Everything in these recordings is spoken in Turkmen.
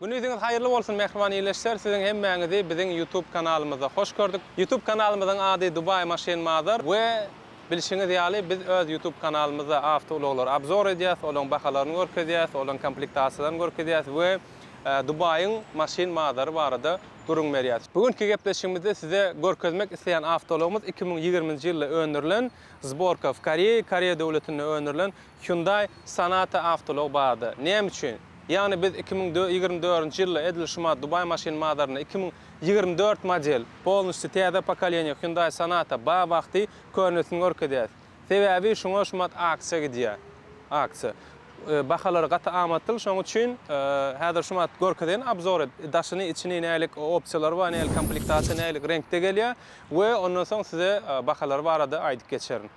Günüziňiz haýyrly bolsun mähriban ildeşler siziň hemmäňizi biziň YouTube kanalymyzda hoş gördük. YouTube kanalymyzyň ady Dubai Machine Mother we bilşiňiz ýaly biz öz YouTube kanalymyzda awtoulaglary obzor edýäs, olaryň bahalaryny görkezýäs, olaryň komplektasiýalaryny görkezýäs we Dubaýyň Machine Mother barada gürrüň berýäs. Bu günki gepleşigimizde size görkezmek isleýän awtoulagymyz iki müň ýigriminji ýylda öndürilen zborka w Koreýa, Koreýa döwletinde öndürilen Hyundai Sonata awtoulag barada, Näme üçin? Ýagny biz iki müň ýigrimi dördünji ýylda edil şu ma Dubai maşyn bazarynda iki müň ýigrimi dört model, polnusty täze pokoleniýe Hyundai Sonata ba wagty könesini görkezýäs. Sebäbi şuňa şumat aksiýa gidýär. Aksiýa. Bahalary gaty amatlyl şoň üçin häzir şumat görkezeýin obzory daşyny içini nälik opsiýalary bar nälik komplektasiýa nälik reňkde gelýär we ondan soň size bahalary barada aýdyp geçerin.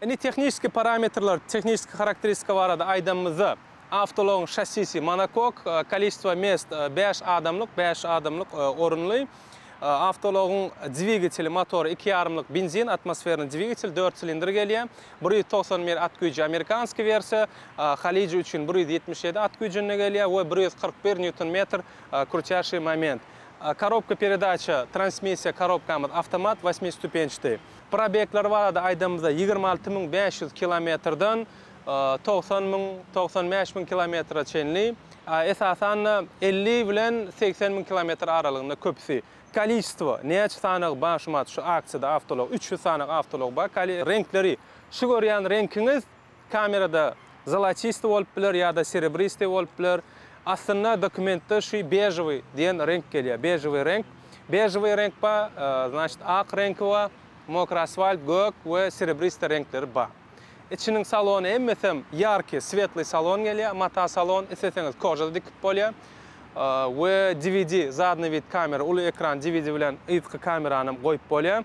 Indi tehniki parametrler, tehniki harakteristika barada aýdanymyzda, awtoulagyň şassisi monokok, kolesistwa mest bäş adamlyk, bäş adamlyk orunly. Awtoulagyň dwigateli, motory iki ýarymlyk benzin, atmosferny dwigatel, dört silindr gelýär. Bir ýüz togsan bir at güýji amerikanskiý wersiýa, halyjy üçin bir ýüz ýetmiş ýedi at güýjünde gelýär we bir ýüz kyrk bir nýuton metr krutýaşyý moment. Korobka peredaça, transmissiýa korobkamyz awtomat, wasmi stupençdi. Probegler barada aýdanymyzda ýigrimi alty müň bäş ýüz kilometrden togsan müň, togsan bäş müň kilometre çenli, esasan-da elli bilen segsen müň kilometr aralygynda köpüsi. Kolişestvo, näçe sanagy bar şu mat şu aksiýada awtoulag, üç ýüz sanagy awtoulag bar, reňkleri, şu görýän reňkiňiz Kamerada zolaçystyý bolup biler ýa-da serebristyý bolup biler. Aslynda dokumentde şu bežowy diýen reňk gelýär. Bežowy reňk. Bežowy reňk bar, znaçt ak reňki bar, mokry asfalt, gök we serebristyý reňkleri bar. Içiniň salony hemmesem ýarki, swetlý salon gelýär. Mata salon, isleseňiz koža-da dikip bolýar. We dvd, zadnyý vid kamera, uly ekran dvd bilen yzky kameranyam goýup bolýar.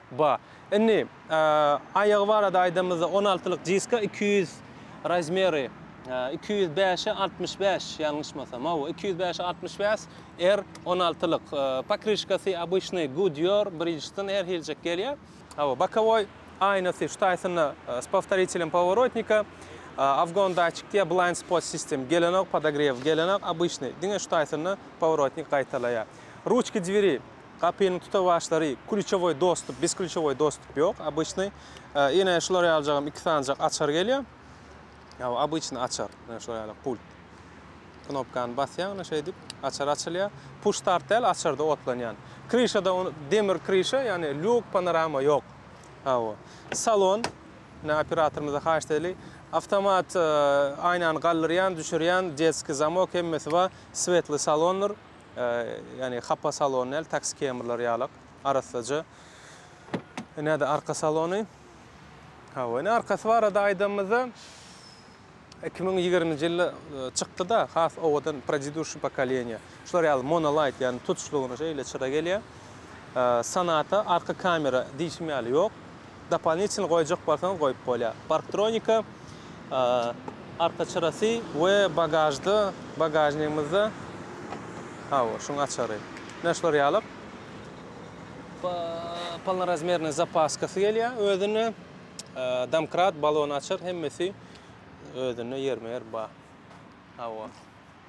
Ba. Indi, aýagy barada aýdanymyzda, on altylyk diska iki ýüz razmeri, iki ýüz bäş-e altmyş bäş, ýalňyşmasam, hawa, iki ýüz bäş-e altmyş bäş R on altylyk. Pokryşkasy obyçnyý Goodyear, Bridgestone her hiljek gelýär. Hawa, bokowoý aýnasy şu taýsyna s powtoritelem poworotnika, afgon datçik diýýär, blind spot system gelenok, podogrew gelenok, obyçnyý, diňe şu taýsyna poworotnik gaýtalaýar. Ruçka dveri Gapynyň tutawaçlary klýuçowoý dostup, biz klýuçowoý dostup ýok. Obyçnyý ine şular ýaljagam iki sanjak açar gelýär. Ýa obyçnyý açar. Ine şular ýaly pult. Knopkany basýaň ine şeýdip açar açylýar. Puş start däl açarda otlanýan. Kryşada demir kryşa ýagny lýuk panorama ýok. Hawa. Salon ine operatorymyza haýyşt edeli. Awtomat aýnany galdyrýan, düşürýän, detskiý zamok hemmesi bar. Swetlý salondyr. Ýagny hapa salon däl, taksi kemrler ýalak, arassaja. Näde arka salony? Hawa, ine arkasy barada aýdanymyzda 2020-nji ýylda e, çykdy-da, has owadan prediduşy pokoleniýa. Şular ýaly monolight, ýagny tutuşlygyna şeýle çyra gelýär. E, Sanata arka kamera diýşim ýaly ýok. Dopalnitçini goýjak bolsaňyz goýup bolýar. Parktronika arka çyrasy we bagažda, bagažnigimizde hawa, şuň açary. Mine şular ýalyk. Polnorazmernyý zapaskasy gelýär özünde. Domkrat, balon açar hemmesi özünde ýerme-ýer bar. Hawa.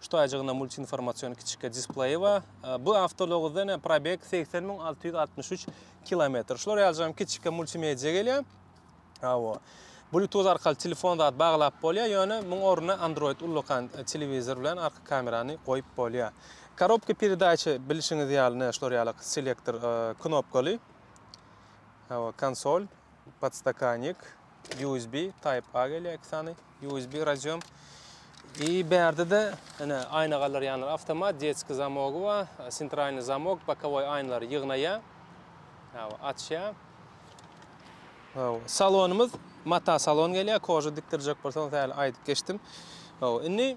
Şu taýjygynda multiinformasion kiçikge displeýi bar. Bu awtologda ene probeg 80663 kilometr. Şular ýalyjam kiçikge multimedia gelýär. Awo. Bluetooth arkaly telefon zat baglap bolýar, ýöne muň ornuna Android ullakan e, telewizor bilen arka kamerany goýup bolýar. Korobka peredaçy bilşiňiz ýaly, ne şular ýaly selektor e, knopkaly. Awa, konsol. Podstakannik, USB, Type A gelýär iki sany, USB radiom. I bärde-de ine aýna galdyrýanlar awtomat, detski zamogy bar, sentralny zamok, bokowoý aýnalary ýygnaýar. Hawa, açýar. Hawa, salonymyz mata salon gelýär, koža dikdirjek bolsaňyz häli aýdyp geçdim. Hawa, indi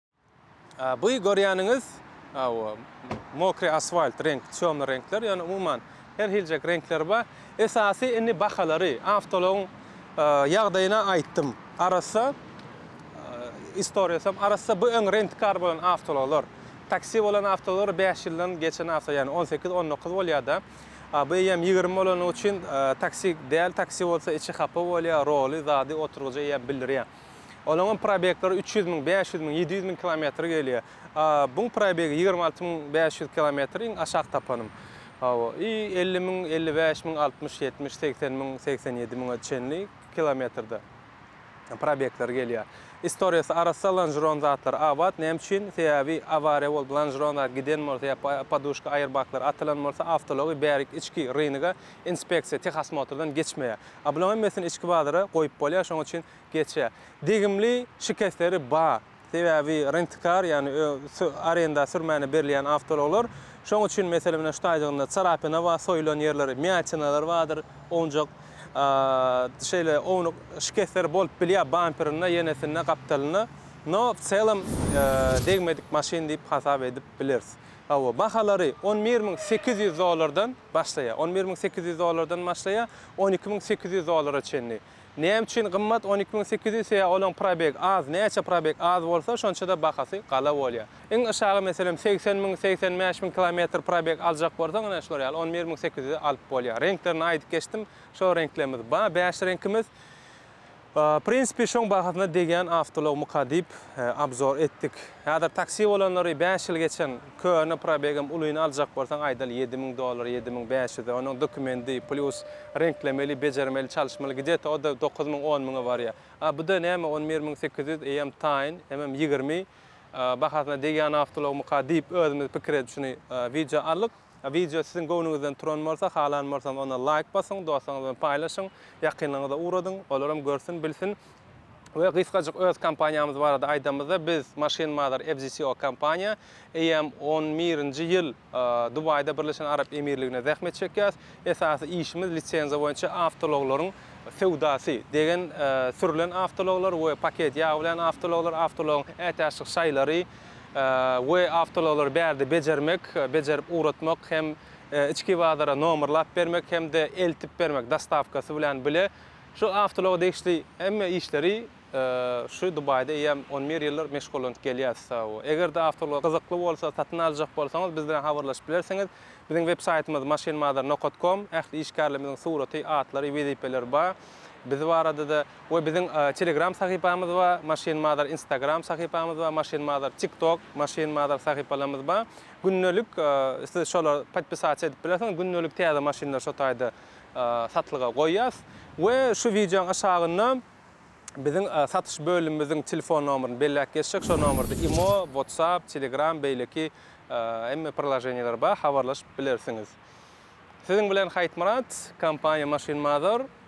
Bu görýäniňiz mokry asfalt reňk, çömli reňkler, ýöne umuman her hiljek reňkler bar. Esasy indi bahalary, awtoulagyň ýagdaýyna aýtdym. Arassa istoriýasam arassa bu öň rentkar bolan awtoulaglar. Taksi bolan awtoulaglar bäş ýyldan geçen awto, ýagny on sekiz, on dokuz bolýar-da. Bu eýýäm ýigrimi bolany üçin taksi däl, taksi bolsa içi hapa bolýar, roly, zady, oturgyjy eýýäm bildirýär. Olaňam probeklary üç ýüz müň, bäş ýüz müň, ýedi ýüz müň kilometr gelýär. Buň probegi ýigrimi alty müň bäş ýüz kilometr iň aşak tapanym. Hawa, i elli müň, elli bäş müň, altmyş, ýetmiş, segsen müň, segsen ýedi müňe çenli kilometrde probekleri gelýär. Istoriýasy arassa lanžeron zatlar abat, näme üçin? Sebäbi awariýa bolup lanžeron zat giden bolsa ýa poduşka aýerbaklar atylan bolsa awtoulag bärik içki rynga Inspeksiýa tehosmotrdan geçmeýär. A bulaň hemmesini içki bazara goýup bolýar, şoň üçin geçýär. Degimli şikesleri ba, sebäbi rentkar, ýagny arenda sürmäne berilýän awtoulaglar. Şoň üçin meselem ine şu taýjygynda çarapina ba, soýulan ýerleri, mýatinalar badyr, owunjak şeýle ownuk şikesleri bolup bilýär bamperinde, ýenesinde, gapdalynda. No w çelem degmedik maşyn diýip hasap edip bileris. Hawa, bahalary on bir müň sekiz ýüz dollardan. başlaýar. On bir müň sekiz ýüz dollardan başlaýar, on iki müň sekiz ýüz dollara çenli. Näme üçin gymmat on iki müň sekiz ýüz sebäbi olaň probeg az, näçe probeg az bolsa şonçada bahasy gala bolýar. Iň yşagy meselem segsen müň, segsen bäş müň kilometr probeg aljak bolsaň ine şular ýaly on bir müň sekiz ýüze alyp bolýar. Reňklerini aýdyp geçdim, şo reňklerimiz bar, bäş reňkimiz. Prinsipi şoň bahasyna degýän awtoulag myka diýip abzor etdik. Häzir taksi bolanlary bäş ýyl geçen köne probegem ulyny aljak bolsaň aýdaly ýedi müň dollar ýedi müň bäş ýüze onuň dokumendi plýus reňklemeli bejermeli çalyşmaly gideta oda dokuz müň on müňe barýa a buda näme on bir müň sekiz ýüz eýem taýyn emem ýigrimi bahasyna degýän awtoulag myka diýip özümiz pikir edip şuny wideo aldyk. Wideo siziň göwnüňizden turan bolsa, halan bolsaňyz onda laýk basyň, dostlaryňyz bilen paýlaşyň, ýakynlaryňyza ugradyň, olaram görsün, bilsin. We gysgajyk öz kompaniýamyz barada aýdamyzda, biz Machine Mother FZCO kompaniýa, eýýäm on birinji ýyl Dubaýda Birleşen Arap Emirliginde zähmet çekýäs. Esasy işimiz lisenziýa boýunça awtoulaglaryň söwdasy, degen sürlen awtoulaglar we paket ýag bilen awtoulaglar, awtoulagyň ätiýaçlyk şaýlary, we awtoulaglary bärde bejermek, bejerip ugratmak hem içki bazara nomerlap bermek hem-de eltip bermek dostawkasy bilen bile şu awtoulaga degişli hemme işleri şu Dubaýda eýýäm on bir ýyldyr meşgullanyp gelýäris. Eger-de awtoulag gyzykly bolsa, satyn aljak bolsaňyz biz bilen habarlaşyp bilersiňiz. Biziň web saýtymyz maşinbazar nokat kom. Ähli işgärlerimiziň suraty, atlary, wezipeleri bar. Biz barada-da. We biziň Telegram sahypamyz bar, Machine Mother Instagram sahypamyz bar, Machine Mother TikTok, Machine Mother sahypalarymyz bar. Gündelik siz şolar podpisasiýa edip bilersiňiz, gündelik täze maşynlar şo taýda satlyga goýýas. We şu wideoň aşagynda biziň satyş bölümimiziň telefon nomeryny belläp geçjek, şo nomerda imo, WhatsApp, Telegram beýleki hemme priloženiýalar bar, habarlaşyp bilersiňiz. Siziň bilen Haýtmyrat, kompaniýa Machine Mother.